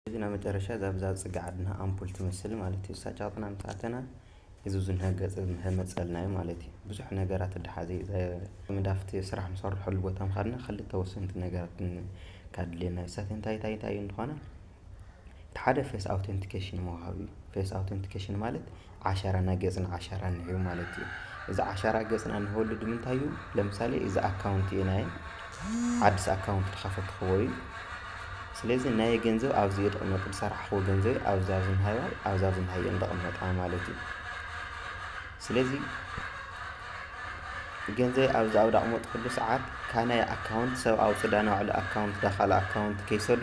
እዚ ናይ መጨረሻ እዛ ብዛ ጽግ ዓድና ኣምፑል ትመስል ማለት እዩ እሳ ጫቕጥና ምስ ኣተና እዚ ብዙ ንሀገጽ ንሀመጸልና እዩ ማለት እዩ ብዙሕ ነገራት እዳሓዘ እዩ መዳፍቲ ስራሕ ንሰርሐሉ ቦታ ምኻድና ክልተ ወሰንቲ ነገራት ካድልየና እዩ እሳተን እንታይ እንታይ እንታይ እንድኾና እቲ ሓደ ፌስ ኣውተንቲኬሽን ምውሃብ እዩ ፌስ ኣውተንቲኬሽን ማለት ዓሻራና ገጽና ዓሻራ እንሀው ማለት እዩ። እዚ ዓሻራ ገጽና እንሀወሉ ድምንታይ እዩ ለምሳሌ እዚ ኣካውንቲ እዩ ናይ ዓዲስ ኣካውንቲ ድኸፈትክዎ እዩ። ስለዚ ናይ ገንዘብ ኣብዚ እዩ ድቕመጥ ድሰራሕክዎ ገንዘብ ኣብዛ ዝንሃዮ ኣብዛ ዝንሃዮ እየን ድቕመጣ ማለት እዩ። ስለዚ ገንዘብ ኣብዚ ኣብ ዳቕመጥኩሉ ሰዓት ካብ ናይ ኣካውንት ሰብ ኣውጽእ ዳናባዕሉ ኣካውንት ዳካልእ ኣካውንት ከይሰዶ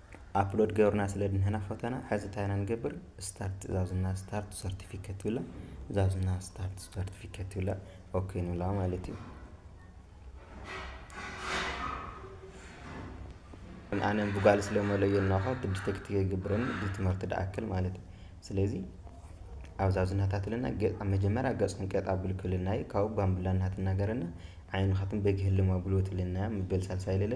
ኣፕሎድ ገበርና ስለ ድንህና ፎቶና ሐዚ እንታይ ኢና ንገብር ስታርት ትእዛዝና ስታርት ሰርቲፊኬት ትብላ ትእዛዝና ስታርት ሰርቲፊኬት ትብላ ኦኬ ንብላ ማለት እዩ ኣነ ብጓል ስለ መለዮ እናኳ ዲቴክት ይገብረኒ ብትምህርቲ ድኣክል ማለት እዩ ስለዚ ኣብዛ ዝናታት ለና ገጽ ኣብ መጀመሪያ ገጽ ክንቀጥ ኣብል ክልና እዩ ካብኡ ባምብላ እናትናገረና ዓይንኻትን በግ ህልም ኣብልዎ ትልና ምበል ሳልሳይ ለለ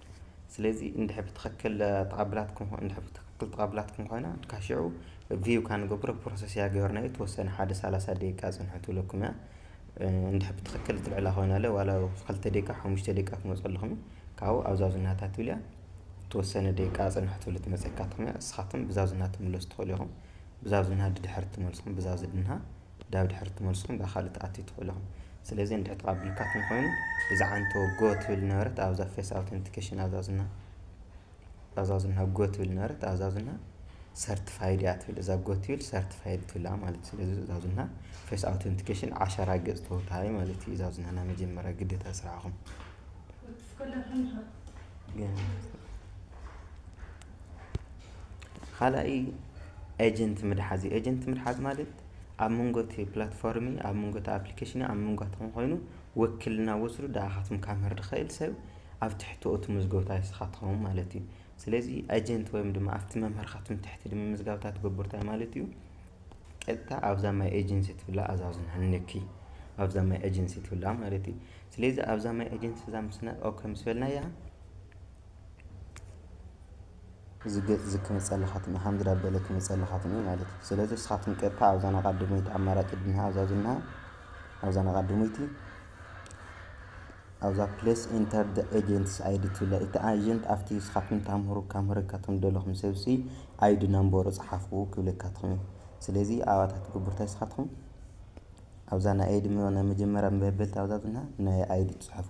ስለዚ እንድሕር ብትኽክል ተቐብላትኩም እንድሕር ብትኽክል ተቐብላትኩም ኮይና ካብ ሽዑ ቪው ካብ ንገብሮ ፕሮሰስ እያ ገበርናዮ ተወሰነ ሓደ ሰላሳ ደቂቃ ፅንሑ ትብለኩም እያ እንድሕር ብትኽክል ትልዕላ ኮይና ለ ዋላ ክልተ ደቂቃ ሓሙሽተ ደቂቃ ክመፀልኹም ካብኡ ኣብ ዛዙናታ ትብል እያ ተወሰነ ደቂቃ ፅንሑ ትብል ትመፀካትኩም እያ ንስኻትኩም ብዛዙና ትምለሱ ትኽእሉ ኢኹም ብዛዙና ድድሕሪ ትመልስኹም ብዛዙድንሃ ዳብ ድሕሪ ትመልስኩም እባ ካልእ ትኣትዩ ትኽእሉ ኢኹም። ስለዚ እንድሕር ተቐቢልካትኒ ኮይኑ እዛ ዓንቶ ጎ ትብል ዝነበረት ኣብዛ ፌስ ኣውተንቲኬሽን ኣዛዙና ኣዛዙና ጎ ትብል ዝነበረት ኣዛዙና ሰርቲፋይድ እያ ትብል እዛ ጎ ትብል ሰርቲፋይድ ትብላ ማለት ስለዚ እዛዙና ፌስ ኣውተንቲኬሽን ዓሸራ ገጽ ተወሃቢ ማለት እዩ እዛዙና ናይ መጀመርያ ግዴታ ስራሕኹም ግን ኻልኣይ ኤጀንት ምትሓዝ እዩ። ኤጀንት ምትሓዝ ማለት ኣብ መንጎ እቲ ፕላትፎርም፣ ኣብ መንጎ እቲ ኣፕሊኬሽን፣ ኣብ መንጓትኩም ኮይኑ ወክልና ወስዱ ንዓኻትኩም ከምህር ዝኽእል ሰብ ኣብ ትሕቲ እቲ ምዝገታ ንስኻ ትኸውን ማለት እዩ። ስለዚ ኤጀንት ወይም ድማ ኣብቲ መምህርኻትኩም ትሕቲ ንምምዝጋብታ ትገብሩ እንታይ ማለት እዩ? ቀጥታ ኣብዛ ማይ ኤጀንሲ ትብላ ኣዛዙን ሃንኪ ኣብዛ ማይ ኤጀንሲ ትብላ ማለት እዩ። ስለዚ ኣብዛ ማይ ኤጀንሲ እዛ ምስ ኦኬ ምስ በልናያ እዚ ገጽ እዚ ክመጸልኻትም እየ ከምዚ ዳበለ ክመጸልኻትም እየ ማለት እዩ ስለዚ እስኻትም ቀጥታ ኣብዛ ናቃድሞይቲ ኣማራጭ ድንሃ ኣብዛ ዝንሃ ኣብዛ ናቃድሞይቲ ኣብዛ ፕሌስ ኢንተር ደ ኤጀንትስ ኣይዲ ትብላ እቲ ኣጀንት ኣብቲ እስኻትም ታምህሩ ካምህረካትም ደለኹም ሰብሲ ኣይዲ ናምበሩ ጽሓፉ ክብለካትኹም እዩ ስለዚ ኣባታት ግቡርታይ እስኻትኹም ኣብዛ ናይ ኣይዲ ናይ መጀመርያ መበልቲ ኣብዛ ዝንሃ ናይ ኣይዲ ጽሑፉ